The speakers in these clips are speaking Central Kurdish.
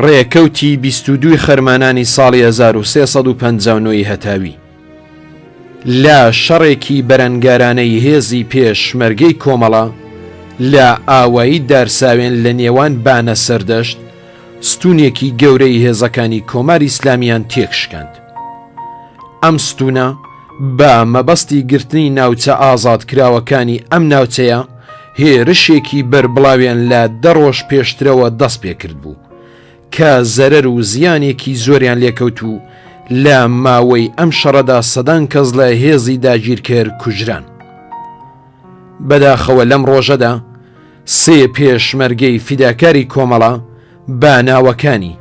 ڕێکەوتی بیست و دووی خەرمانانی ساڵی 1350ی هەتاوی لە شەڕێکی بەرەنگارانەی هێزی پێشمەرگەی کۆمەڵە لە ئاوایی دارساوێن لە نێوان بانە سەردەشت ستونێکی گەورەی هێزەکانی کۆماری ئسلامیان تێکشکاند ئەم ستونە بە مەبەستی گرتنی ناوچە ئازادکراوەکانی ئەم ناوچەیە هێرشێکی بەربڵاویان لە دەڕۆژ پێشترەوە دەست پێکرد بوو کە زەرەر و زیانێکی زۆریان لێکەوت و لە ماوەی ئەم شەڕەدا سەدان کەس لە هێزی داگیرکەر کوژران بەداخەوە لەم ڕۆژەدا سێ پێشمەرگەی فیداکاری کۆمەڵە بە ناوەکانی،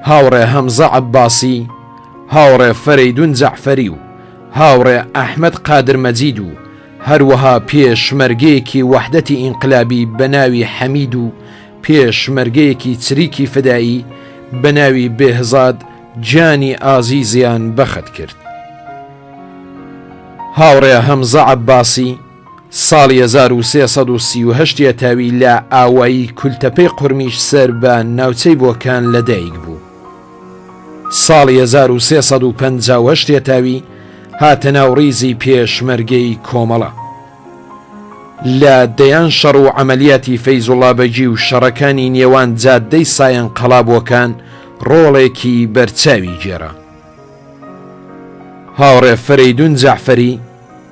هاوڕێ هەمزە عەبباسی، هاوڕێ فەرەیدون جەعفەری و هاوڕێ ئەحمەد قادر مەجید و هەروەها پێشمەرگەیەکی وەحدەتی ئینقلابی بە ناوی حەمید و پێشمەرگەیەکی چریکی فدائی بە ناوی بێهزاد گیانی ئازیزیان بەخت کرد. هاوڕێ هەمزە عەبباسی، ساڵی هەزار و سێ سەد و سی و هەشت یەتاوی لە ئاوایی کولتەپەی قورمیش سەر بە ناوچەی بۆکان لە دایک بوو. ساڵی هەزار و سێ سەد و پەنجا و هەشت یەتاوی هاتە ناو ڕیزی پێشمەرگەی کۆمەڵە. لە دەیان شەڕ و عەمەلیاتی فەیزوڵا بەگی و شەڕەکانی نێوان جاددەی سایەن قەڵا بۆکان ڕۆڵێکی بەرچاوی گێڕا. هاوڕێ فەرەیدوون جەعفەری،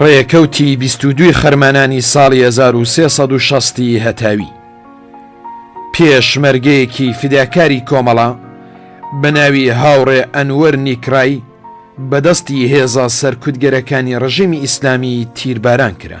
ڕێکەوتی بیست و دووی خەرمانانی ساڵی هەزار و سێ سەد و شەستی هەتاوی پێشمەرگەیەکی فیداکاری کۆمەڵە بە ناوی هاوڕێ ئەنوەر نیکڕای بەدەستی هێزە سەرکوتگەرەکانی ڕژیمی ئیسلامی تیرباران کرا.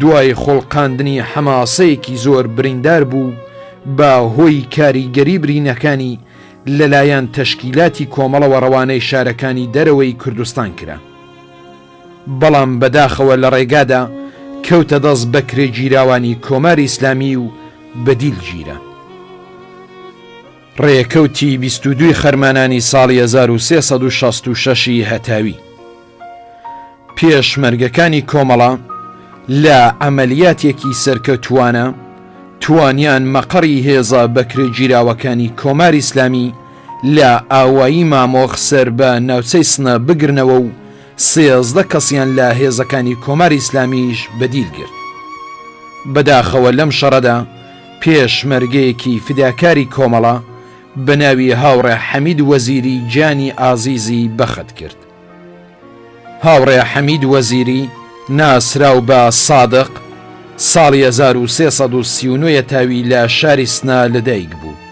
دوای خوڵقاندنی حەماسەیەکی زۆر بریندار بوو بە هۆی کاریگەری برینەکانی لەلایەن تەشکیلاتی کۆمەڵەوە ڕەوانەی شارەکانی دەرەوەی کوردستان کرا بەڵام بەداخەوە لە ڕێگادا کەوتە دەست بەکرێگیراوانی کۆماری ئیسلامی و بەدیل گیرا. ڕێکەوتی بیست و دوو ی خەرمانانی ساڵی هەزار و سێ سەد و شەست و شەش ی هەتاوی. پێشمەرگەکانی کۆمەڵە لە عەمەلیاتێکی سەرکەوتووانە توانیان مەقەڕی هێزە بەکرێگیراوەکانی کۆماری ئیسلامی لە ئاوایی مامۆخ سەر بە ناوچەی سنە بگرنەوە و سێزدە کەسیان لە هێزەکانی کۆماری ئیسلامیش بە دیل گرت. بەداخەوە لەم شەڕەدا پێشمەرگەیەکی فیداکاری کۆمەڵە بە ناوی هاوڕێ حەمید وەزیری گیانی ئازیزی بەخت کرد. هاوڕێ حەمید وەزیری ناسراو بە سادق، ساڵی هەزار و سێ سەد و سی و نۆ ە تاوی لە شاری سنە لەدایک بوو.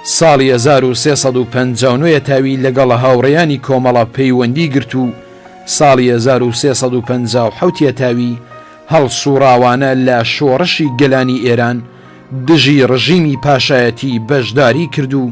ساڵی هەزار و سێ سەد و پەنجا و نۆ ە تاوی لەگەڵ هاوڕێیانی کۆمەڵە پەیوەندی گرت و ساڵی هەزار و سێ سەد و پەنجا و حەوت ە تاوی هەڵسوڕاوانە لە شۆڕشی گەلانی ئێران دژی ڕژیمی پاشایەتی بەشداری کرد و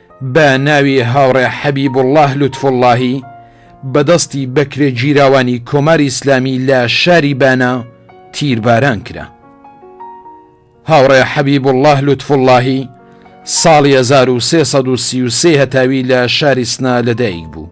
بە ناوی هاوڕێ حەبیبوڵڵا لوتفوڵڵاهی بە دەستی بەکرێگیراوانی کۆماری ئیسلامی لە شاری بانە تیرباران کرا. هاوڕێ حەبیبوڵڵا لوتفوڵڵاهی ساڵی هەزار و سێ سەد و سی و سێ هەتاوی لە شاری سنە لەدایکبوو.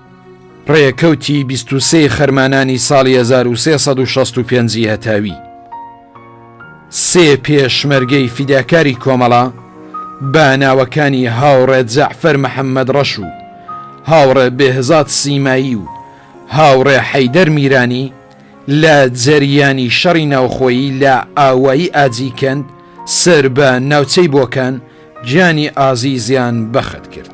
ڕێکەوتی بیست و سێ خەرمانانی ساڵی هەزار و سێ سەد و شەست و پێنجی هەتاوی سێ پێشمەرگەی فیداکاری کۆمەڵە بە ناوەکانی هاوڕێ جەعفەر محەممەد ڕەش و هاوڕێ بێهزاد سیمایی و هاوڕێ حەیدەر میرانی لە جەریانی شەڕی ناوخۆیی لە ئاوایی ئاجیکەند سەر بە ناوچەی بۆکان گیانی ئازیزیان بەخت کرد.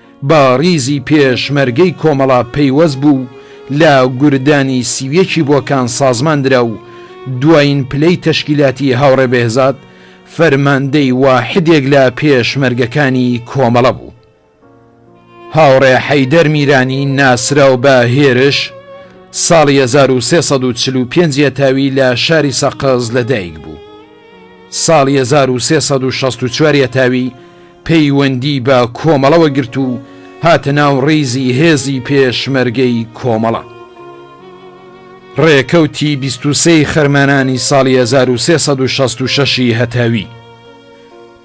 بە ڕیزی پێشمەرگەی کۆمەڵە پەیوەست بوو لە گوردانی سی و یەکی بۆکان سازمان درا و دوایین پلەی تەشکیلاتی هاوڕێ بێهزاد فەرماندەی واحدێک لە پێشمەرگەکانی کۆمەڵە بوو. هاوڕێ حەیدەر میرانی ناسراو بە هێرش، ساڵی هەزار و سێ سەد و چل و پێنج یەتاوی لە شاری سەقز لە دایک بوو. ساڵی هەزار و سێ سەد و شەست و چوار یەتاوی، پەیوەندی بە کۆمەڵەوە گرت و هاتە ناو ڕیزی هێزی پێشمەرگەی کۆمەڵە. ڕێکەوتی بیست و سێ ی خەرمانانی ساڵی هەزار و سێ سەد و شەست و شەش ی هەتاوی،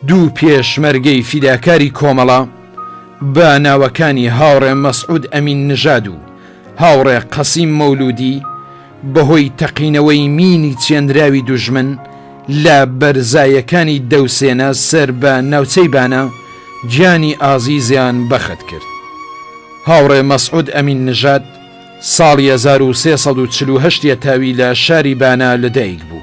دوو پێشمەرگەی فیداکاری کۆمەڵە بە ناوەکانی هاوڕێ مەسعود ئەمین نژاد و هاوڕێ قەسیم مەولودی، بەهۆی تەقینەوەی مینی چێنراوی دوژمن لە بەرزایەکانی دەوسێنە سەر بە ناوچەی بانە گیانی ئازیزیان بەخت کرد. هاوڕێ مەسعود ئەمین نژاد ساڵی هەزار و سێ سەد و چل و هەشت یە تاوی لە شاری بانە لەدایک بوو.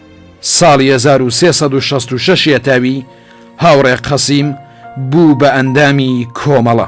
ساڵی هەزار و سێ سەد و شەست و شەش یەتاوی هاوڕێ قەسیم بوو بە ئەندامی کۆمەڵە.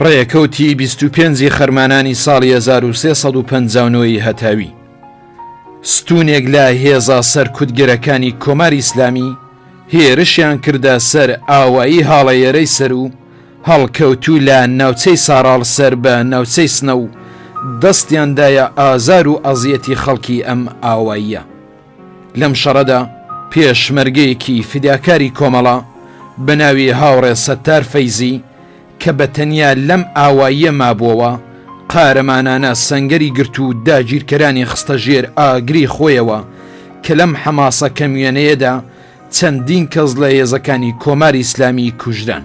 ڕێکەوتی 25 خەرمانانی ساڵی 1350ەوەی هەتاوی ستونێک لە هێزا سەرکوتگەرەکانی کۆماری ئیسلامی هێرشیان کردە سەر ئاوایی هاڵەیەرەی سەر و هەڵکەوتوو لە ناوچەی ساراڵ سەر بە ناوچەی سنە و دەستیاندایە ئازار و ئەزیەتی خەڵکی ئەم ئاواییە. لەم شەڕەدا پێشمەرگەیەکی فیداکاری کۆمەڵە بە ناوی هاوڕێ سەتار فەیزی کە بە تەنیا لەم ئاواییە مابووەوە، قارەمانانە سەنگەری گرت و داگیرکەرانی خستە ژێر ئاگری خۆیەوە کە لەم حەماسە کەموێنەیەدا چەندین کەس لە هێزەکانی کۆماری ئیسلامی کوژران.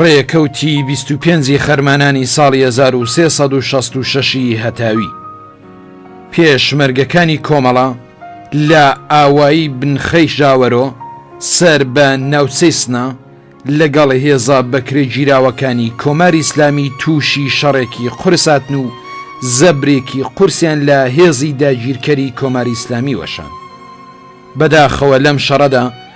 ڕێکەوتی بیست و پێنجی خەرمانانی ساڵی هەزار و سێ سەد و شەست و شەش ی هەتاوی پێشمەرگەکانی کۆمەڵە لە ئاوایی بنخەی ژاوەرۆ سەر بە ناوچەی سنە لەگەڵ هێزە بەکرێگیراوەکانی کۆماری ئیسلامی تووشی شەڕێکی قورس هاتن و زەبرێکی قورسیان لە هێزی داگیرکەری کۆماری ئیسلامی وەشان. بەداخەوە لەم شەڕەدا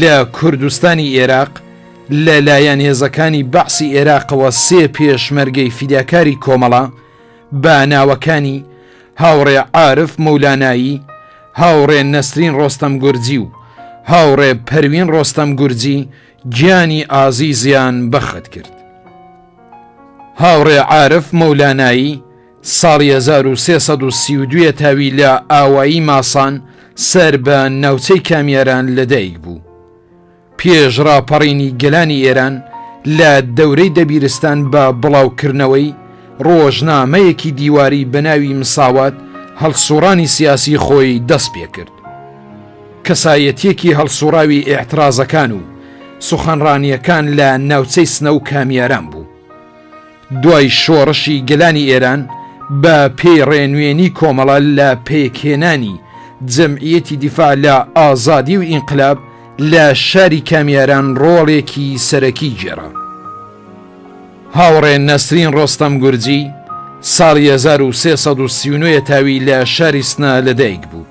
لە کوردستانی ئێراق لە لایەن هێزەکانی بەعسی ئێراقەوە سێ پێشمەرگەی فیداکاری کۆمەڵە بە ناوەکانی هاوڕێ عارف مولانایی، هاوڕێ نەسرین ڕۆستەم گورجی و هاوڕێ پەروین ڕۆستەم گورجی گیانی ئازیزیان بەخت کرد. هاوڕێ عارف مولانایی، ساڵی هەزار و سێ سەد و سی و دوو یەتاوی لە ئاوایی ماسان سەر بە ناوچەی کامیاران لەدایک بوو. پێش ڕاپەڕینی گەلانی ئێران لە دەورەی دەبیرستان بە بڵاوکردنەوەی ڕۆژنامەیەکی دیواری بە ناوی مساوات هەڵسووڕانی سیاسی خۆی دەست پێ کرد. کەسایەتییەکی هەڵسووڕاوی ئێعتڕازەکان و سوخەنڕانییەکان لە ناوچەی سنە و کامیاران بوو. دوای شۆڕشی گەلانی ئێران بە پێی ڕێنوێنی کۆمەڵە لە پێکهێنانی جەمعیەتی دیفاع لە ئازادی و ئینقلاب لە شاری کامیاران ڕۆڵێکی سەرەکی گێڕا. هاوڕێ نەسرین ڕۆستەم گورجی ساڵی هەزار و سێ سەد و سی و نۆ یەتاوی لە شاری سنە لەدایک بوو.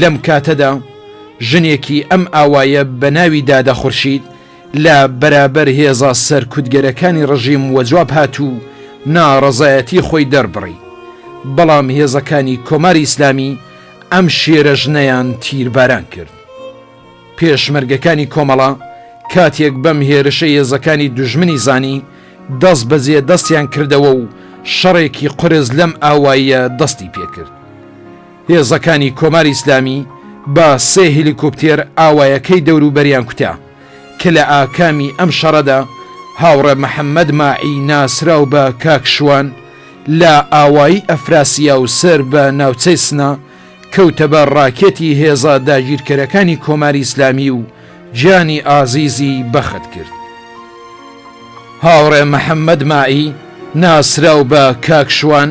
لەم کاتەدا ژنێکی ئەم ئاوایە بە ناوی دادە خورشید لە بەرابەر هێزە سەرکوتگەرەکانی ڕژیم وەجواب هات و ناڕەزایەتی خۆی دەربڕی، بەڵام هێزەکانی کۆماری ئیسلامی ئەم شێرە ژنەیان تیرباران کرد. پێشمەرگەکانی کۆمەڵە کاتێک بەم هێرشە هێزەکانی دوژمنی زانی، دەستبەجێ دەستیان کردەوە و شەڕێکی قورس لەم ئاوایە دەستی پێکرد. هێزەکانی کۆماری ئیسلامی بە سێ هێلیکۆپتێر ئاوایەکەی دەوروبەریان کوتا، کە لە ئاکامی ئەم شەڕەدا هاوڕێ محەممەد ماعی ناسراو بە کاک شوان لە ئاوایی ئەفراسیاو سەر بە ناوچەی سنە کەوتە بەر ڕاکێتی هێزە داگیرکەرەکانی کۆماری ئیسلامی و گیانی ئازیزی بەخت کرد. هاوڕێ محەممەد ماعی ناسراو بە کاک شوان،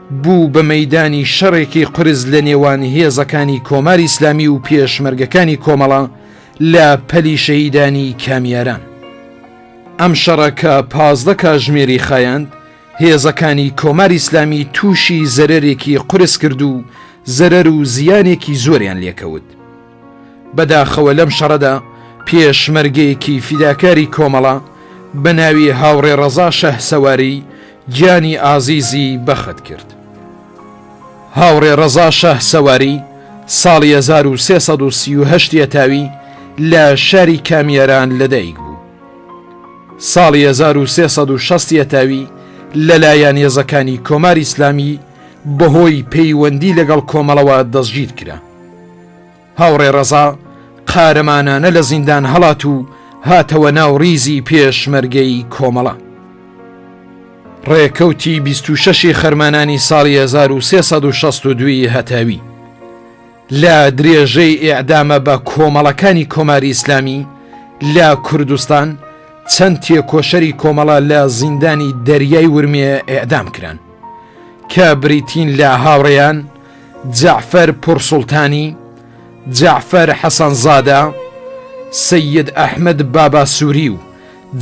بوو بە مەیدانی شەڕێکی قورس لە نێوان هێزەکانی کۆماری ئیسلامی و پێشمەرگەکانی کۆمەڵە لە پەلی شەهیدانی کامیاران. ئەم شەڕە کە پازدە کاژمێری خایاند، هێزەکانی کۆماری ئیسلامی تووشی زەرەرێکی قورس کرد و زەرەر و زیانێکی زۆریان لێکەوت. بەداخەوە لەم شەڕەدا پێشمەرگەیەکی فیداکاری کۆمەڵە بە ناوی هاوڕێ ڕەزا شەهسەواری گیانی ئازیزی بەخت کرد. هاوڕێ ڕەزا شەهسەواری ساڵی هەزار و سێ سەد و سی و هەشت یەتاوی لە شاری کامیاران لەدایک بوو. ساڵی هەزار و سێ سەد و شەست یەتاوی لەلایەن هێزەکانی کۆماری ئیسلامی بەهۆی پەیوەندی لەگەڵ کۆمەڵەوە دەستگیر کرا. هاوڕێ ڕەزا قارەمانانە لە زیندان هەڵات و هاتەوە ناو ڕیزی پێشمەرگەی کۆمەڵە. ڕێکەوتی 26 خەرمانانی ساڵی 1962 هەتاوی لە درێژەی ئێعدامە بە کۆمەڵەکانی کۆماری ئیسلامی لە کوردستان چەند تێکۆشەری کۆمەڵە لە زیندانی دەریای ورمێ ئێعدام کران کە بریتین لە هاوڕێیان جەعفەر پوڕسوڵتانی، جەعفەر حەسەنزادە، سەید ئەحمەد باباسووری و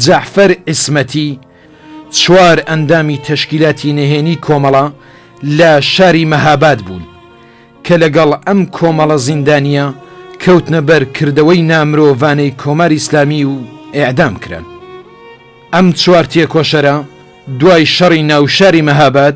جەعفەر عیسمەتی، چوار ئەندامی تەشکیلاتی نەهێنی کۆمەڵە لە شاری مەهاباد بوون، کە لەگەڵ ئەم کۆمەڵە زیندانییە کەوتنە بەر کردەوەی نامرۆڤانەی کۆماری ئیسلامی و ئێعدام کران. ئەم چوار تێکۆشەرە دوای شەڕی ناوشاری مەهاباد،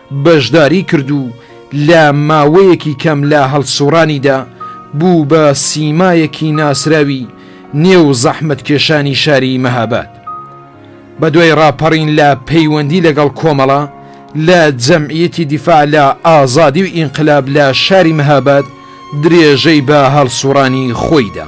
بەشداری کرد و لە ماوەیەکی کەم لە هەڵسوڕانیدا بوو بە سیمایەکی ناسراوی نێو زەحمەتکێشانی شاری مەهاباد. بەدوای ڕاپەڕین لە پەیوەندی لەگەڵ کۆمەڵە لە جەمعیەتی دیفاع لە ئازادی و ئینقلاب لە شاری مەهاباد درێژەی بە هەڵسوڕانی خۆی دا.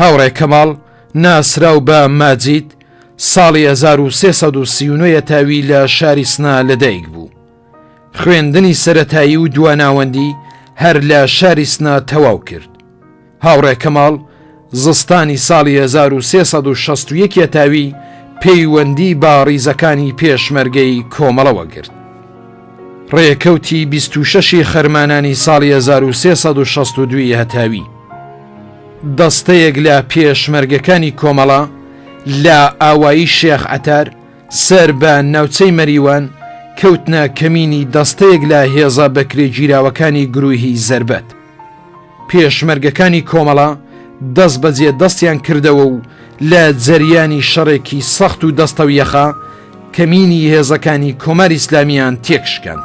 هاوڕێ کەماڵ ناسراو بە ماجید ساڵی 1339 یەتاوی لە شاری سنا لەدایک بوو. خوێندنی سەتایی و دواناوەندی هەر لە شاری سنا تەواو کرد. هاوڕێ کەماڵ زستانی ساڵی 1360 یەتاوی پەیوەندی با ڕیزەکانی پێشمەرگەی کۆمەڵەوە گرت. ڕێکەوتی 26 خەرمانانی ساڵی 1362 هەتاوی. دەستەیەک لە پێشمەرگەکانی کۆمەڵە لە ئاوایی شێخ عەتار سەر بە ناوچەی مەریوان کەوتنە کەمینی دەستەیەک لە هێزە بەکرێ گیراوەکانی گروهی زربەت. پێشمەرگەکانی کۆمەڵە دەست بەجێ دەستیان کردەوە و لە جەریانی شەڕێکی سەخت و دەستەویەخە کەمینی هێزەکانی کۆماری ئیسلامیان تێکشکاند.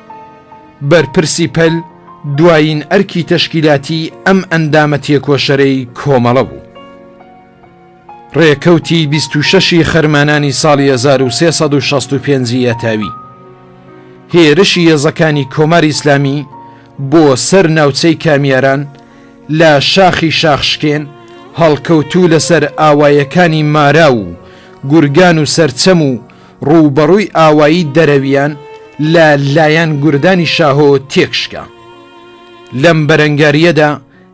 بەرپرسی پەل دوایین ئەرکی تەشکیلاتی ئەم ئەندامە تێکۆشەرەی کۆمەڵە بوو. ڕێکەوتی بیست و شەش ی خەرمانانی ساڵی هەزار و سێ سەد و شەست و پێنج ی یەتاوی، هێرشی هێزەکانی کۆماری ئیسلامی بۆ سەر ناوچەی کامیاران لە شاخی شاخشکێن، هەڵکەوتوو لەسەر ئاوایەکانی ماراو و گورگان و سەرچەم و ڕووبەڕووی ئاوایی دەرەویان لە لایەن گوردانی شاهۆ تێکشکا. لەم بەرەنگارییەدا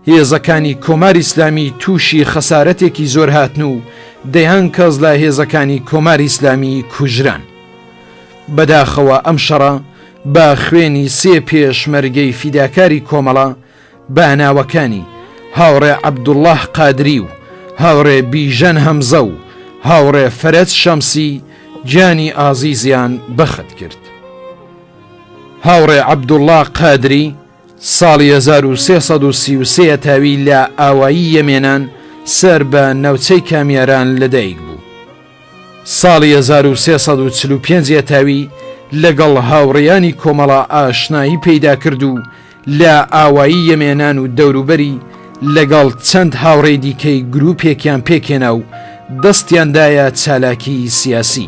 هێزەکانی کۆماری ئیسلامی تووشی خەسارەتێکی زۆر هاتن و دەیان کەس لە هێزەکانی کۆماری ئیسلامی کوژران. بەداخەوە ئەم شەڕە بە خوێنی سێ پێشمەرگەی فیداکاری کۆمەڵە، بە ناوەکانی، هاوڕێ عەبدوڵا قادری و هاوڕێ بیژەن هەمزە و هاوڕێ فەرەج شەمسی گیانی ئازیزیان بەخت کرد. هاوڕێ عەبدوڵا قادری ساڵی هەزار و سێ سەد و سی و سێ تاوی لە ئاوایی یەمێنان سەر بە ناوچەی کامیاران لەدایک بوو. ساڵی هەزار و سێ سەد و چل و پێنج ێتاوی لەگەڵ هاوڕێیانی کۆمەڵە ئاشنایی پەیدا کرد و لە ئاوایی یەمێنان و دەوروبەری لەگەڵ چەند هاوڕێی دیکەی گرووپێکیان پێکهێنا و دەستیان دایە چالاکیی سیاسی.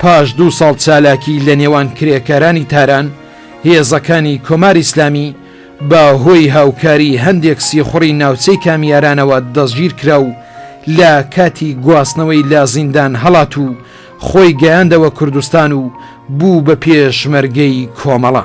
پاش دوو ساڵ چالاکی لە نێوان کرێکارانی تاران، هێزەکانی کۆماری ئیسلامی بە هۆی هاوکاری هەندێک سیخوڕی ناوچەی کامیارانەوە دەستگیر کرا و لە کاتی گواستنەوەی لە زیندان هەڵات و خۆی گەیاندەوە کوردستان و بوو بە پێشمەرگەی کۆمەڵە.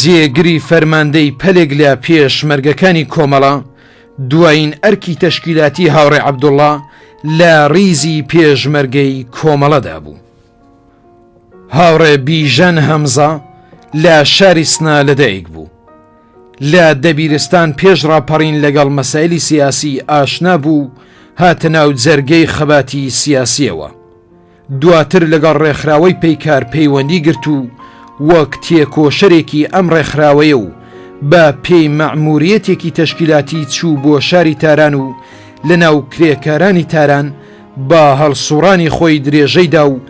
جێگری فەرماندەی پەلێک لە پێشمەرگەکانی کۆمەڵە، دوایین ئەرکی تەشکیلاتی هاوڕێ عەبدوڵا لە ڕیزی پێشمەرگەی کۆمەڵەدا بوو. هاوڕێ بیژەن هەمزە لە شاری سنە لەدایک بوو. لە دەبیرستان پێش ڕاپەڕین لەگەڵ مەسایلی سیاسی ئاشنا بوو و هاتە ناو جەرگەی خەباتی سیاسیەوە. دواتر لەگەڵ ڕێکخراوەی پەیکار پەیوەندی گرت و وەک تێکۆشەرێکی ئەم ڕێکخراوەیە و بە پێی مەعموریەتێکی تەشکیلاتی چوو بۆ شاری تاران و لە ناو کرێکارانی تاران بە هەڵسوڕانی خۆی درێژەی دا و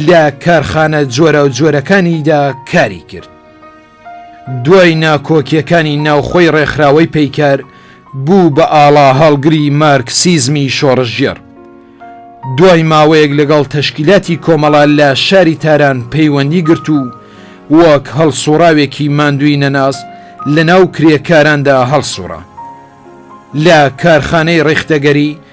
لە کارخانە جۆراوجۆرەکانیدا کاری کرد. دوای ناکۆکیەکانی ناوخۆی ڕێکخراوەی پەیکەر بوو بە ئاڵا هەڵگری مارکسیزمی شۆڕشگێڕ. دوای ماوەیەک لەگەڵ تەشکیلاتی کۆمەڵە لە شاری تاران پەیوەندی گرت و وەک هەڵسوڕاوێکی ماندووی نەناس لەناو کرێکاراندا هەڵسوڕا. لە کارخانەی ڕیختەگەری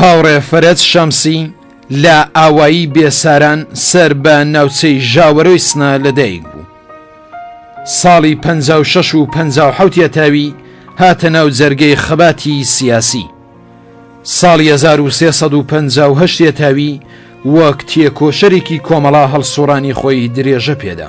هاوڕێ فەرەج شەمسی لە ئاوایی بێساران سەر بە ناوچەی ژاوەرۆی سنە لەدایک بوو. ساڵی پ شش و پ حوتە تاوی هاتە ناو جەرگەی خەباتی سیاسی. ساڵی 1350 تاوی وەک تێکۆشەرێکی کۆمەڵا هەڵسوڕانی خۆی درێژە پێدا.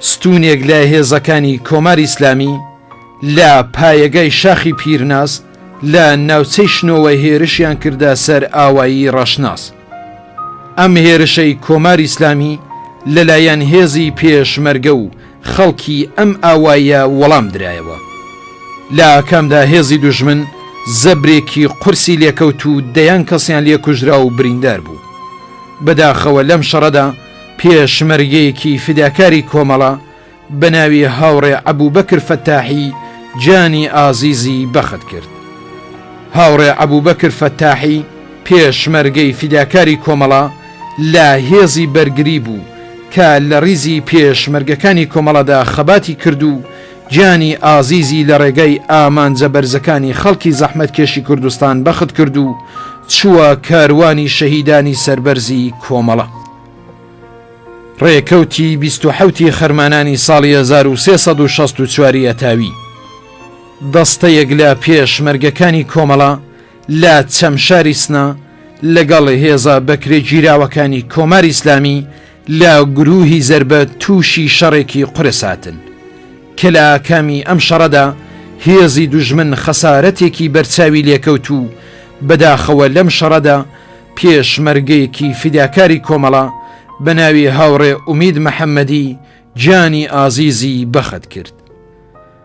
ستوونێک لە هێزەکانی کۆماری ئیسلامی لە پایەگای شاخی پیرناز لە ناوچەی شنۆوە هێرشیان کردە سەر ئاوایی ڕەشناس. ئەم هێرشەی کۆماری ئیسلامی لەلایەن هێزی پێشمەرگە و خەڵکی ئەم ئاوایە وەڵام درایەوە. لە ئاکامدا هێزی دوژمن زەبرێکی قورسی لێکەوت و دەیان کەسیان لێ کوژرا و بریندار بوو. بەداخەوە لەم شەڕەدا، پێشمەرگەیەکی فیداکاری کۆمەڵە بە ناوی هاوڕێ ئەبوبەکر فەتاحی گیانی ئازیزی بەخت کرد. هاوڕێ ئەبوبەکر فەتاحی پێشمەرگەی فیداکاری کۆمەڵە لە هێزی بەرگری بوو کە لە ڕیزی پێشمەرگەکانی کۆمەڵەدا خەباتی کرد و گیانی ئازیزی لە ڕێگای ئامانجە بەرزەکانی خەڵکی زەحمەتکێشی کوردستان بەخت کرد و چووە کاروانی شەهیدانی سەربەرزی کۆمەڵە. ڕێکەوتی بیست و حەوت ی خەرمانانی ساڵی هەزار و سێ سەد و شەست و چوار ی ئەتاوی، دەستەیەک لە پێشمەرگەکانی کۆمەڵە لە چەمشاری سنە لەگەڵ هێزە بەکرێگیراوەکانی کۆماری ئیسلامی، لە گرووهی زەربە تووشی شەڕێکی قورس هاتن کە لە ئاکامی ئەم شەڕەدا هێزی دوژمن خەسارەتێکی بەرچاوی لێکەوت و بەداخەوە لەم شەڕەدا پێشمەرگەیەکی فیداکاری کۆمەڵە بە ناوی هاوڕێ ئومید محەمەدی گیانی ئازیزی بەخت کرد.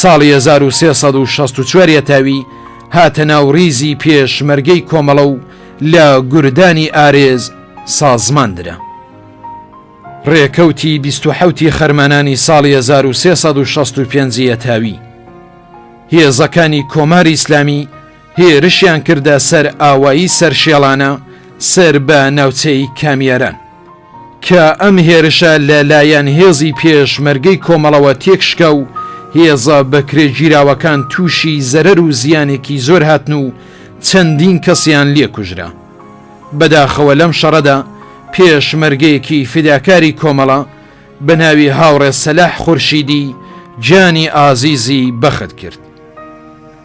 ساڵی هەزار و سێ سەد و شەست و چوار یەتاوی هاتە ناو ڕیزی پێشمەرگەی کۆمەڵە و لە گوردانی ئارێز سازمان درا. ڕێکەوتی بیست و حەوتی خەرمانانی ساڵی هەزار و سێ سەد و شەست و پێنج یەتاوی هێزەکانی کۆماری ئیسلامی هێرشیان کردە سەر ئاوایی سەرشێڵانە سەر بە ناوچەی کامیاران کە ئەم هێرشە لەلایەن هێزی پێشمەرگەی کۆمەڵەوە تێکشکا و هێزە بەکرێ گیراوەکان تووشی زەرەر و زیانێکی زۆر هاتن و چەندین کەسیان لێ کوژرا بەداخەوە لەم شەڕەدا پێشمەرگەیەکی فیداکاری کۆمەڵە بە ناوی هاوڕێ سەلاح خورشیدی جانی ئازیزی بەخت کرد.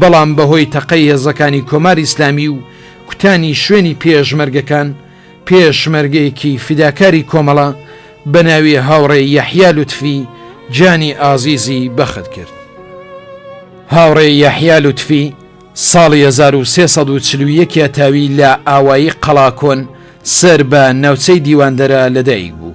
بەڵام بەهۆی تەقەی هێزەکانی کۆماری ئیسلامی و کوتانی شوێنی پێشمەرگەکان، پێشمەرگەیەکی فیداکاری کۆمەڵە بە ناوی هاوڕێ یەحیا لوتفی گیانی ئازیزی بەخت کرد. هاوڕێ یەحیا لوتفی ساڵی هەزار و سێ سەد و چل و یەک ە تاوی لە ئاوایی قەڵاکۆن سەر بە ناوچەی دیواندەرە لەدایکبوو.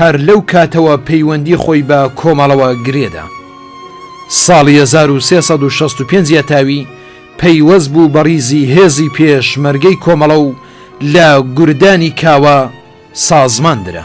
هەر لەو کاتەوە پەیوەندی خۆی بە کۆمەڵەوە گرێدا. ساڵی هەزار و سێ سەد و شەست و پێنج یەتاوی پەیوەست بوو بە ڕیزی هێزی پێشمەرگەی کۆمەڵە و لە گوردانی کاوە سازمان درا.